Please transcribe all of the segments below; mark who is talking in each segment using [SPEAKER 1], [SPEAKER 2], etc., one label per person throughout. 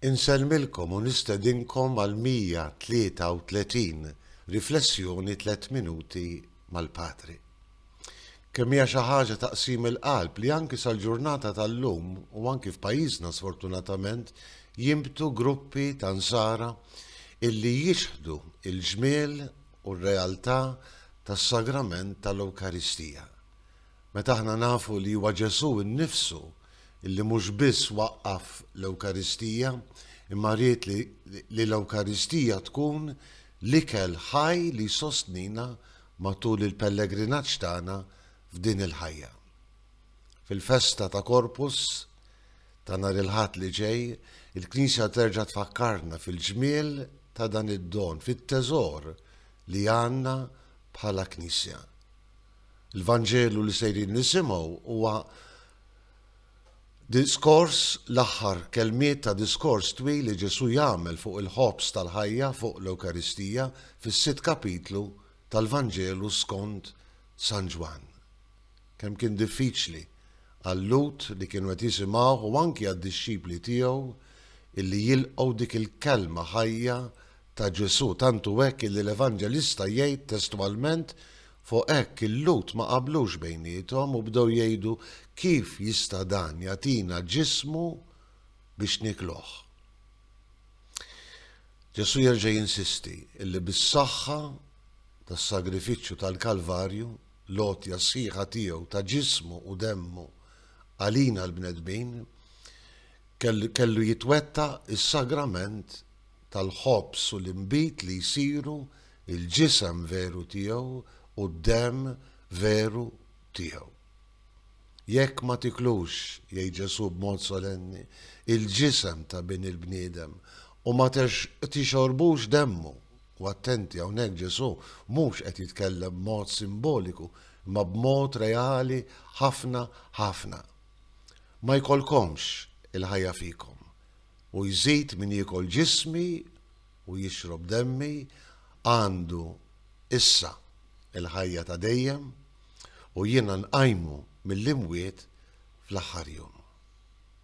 [SPEAKER 1] Insellmilkom u nistedinkom għall-133 Riflessjoni Tliet Minuti mal-Patri. Kemm hija xi ħaġa ta' qsim il-qalb li anki sal-ġurnata tal-lum u anki f'pajjiżna sfortunatament jinbtu gruppi ta' Nsara illi jixħdu l-ġmiel u r-realtà tas-Sagrament tal-Ewkaristija. Meta aħna nafu li huwa Ġesù nnifsu li mhux biss waqqaf l-Ewkaristija, imma ried li l-Ewkaristija tkun l-ikel ħaj li jsostnina matul il-pellegrinaġġ tagħna f'din il-ħajja. Fil-festa ta' Corpus ta' nhar il-Ħadd li ġej, il-Knisja terġa' tfakkarna fil-ġmiel ta' dan id-don, fit-teżor li għandna bħala Knisja. Il-Vanġelu li sejrin nisimgħu huwa diskors, l-aħħar kelmiet ta' diskors twil li Ġesù jagħmel fuq il-ħobż tal-ħajja fuq l-Ewkaristija fis-sitt kapitlu tal-Vanġelu skont San Ġwann. Kemm kien diffiċli għal-Lhud li kienu qed jisimgħuh u anki għad-dixxipli tiegħu illi jilqgħu dik il-kelma ħajja ta' Ġesù, tantu hekk illi l-Evanġelista jgħid testwalment Fuq hekk il-Lhud ma qablux bejniethom u bdew jgħidu, Kif jista' dan jagħtina ġismu biex niekluh? Ġesù jerġa' jinsisti li bis-saħħa tas-sagrifiċċju tal-Kalvarju, l-għotja sħiħa tiegħu ta' ġismu u demmu għalina l-bnedmin, kellu jitwettaq is-sagrament tal-ħobż u l-inbid li jsiru il-ġisem veru tiegħu u d-demm veru tiegħu. Jekk ma tiklux, jgħid Ġesù b'mod solenni, il-ġisem ta' Bin il-bniedem u ma tixorbux demmu, u attenti hawnhekk Ġesù mhux qed jitkellem b'mod simboliku imma b'mod reali ħafna ħafna, ma jkollkomx il-ħajja fikom. U jżid min jiekol ġismi u jixrob demmi għandu issa l-ħajja ta' dejjem u jiena nqajmu mill-imwiet fl-aħħar jum.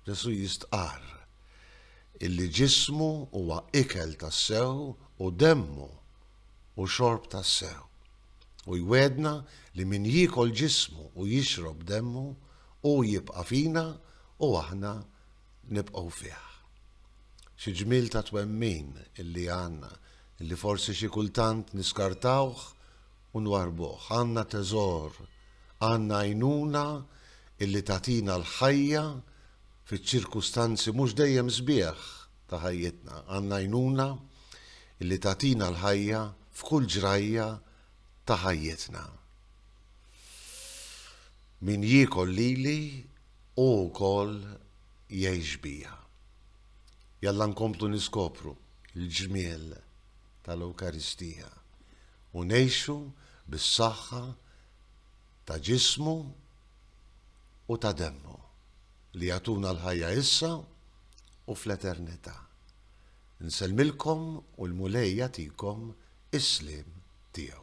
[SPEAKER 1] Ġesù jistqarr illi ġismu huwa ikel tassew u demmu hu xorb tassew. U jwegħedna li min jiekol ġismu u jixrob demmu hu jibqa' fina u aħna nibqgħu fih. Xi ġmiel ta' twemmin illi għandna, illi forsi xi kultant niskartawh u nwarrbuh. Għandna teżor, għandna għajnuna illi tagħtina l-ħajja fiċ-ċirkustanzi mhux dejjem sbieħ ta' ħajjitna. Għandna għajnuna illi tagħtina l-ħajja f'kull ġrajja ta' ħajjitna. Min jiekol lili Hu wkoll jgħix bija. Jalla nkomplu niskopru l-ġmiel tal-Ewkaristija u ngħixu bis-saħħa ta' Ġismu u ta' Demmu li jagħtuna l-ħajja issa u fl-eternità. Nsellmilkom u l-Mulej jagħtikom is-sliem tiegħu.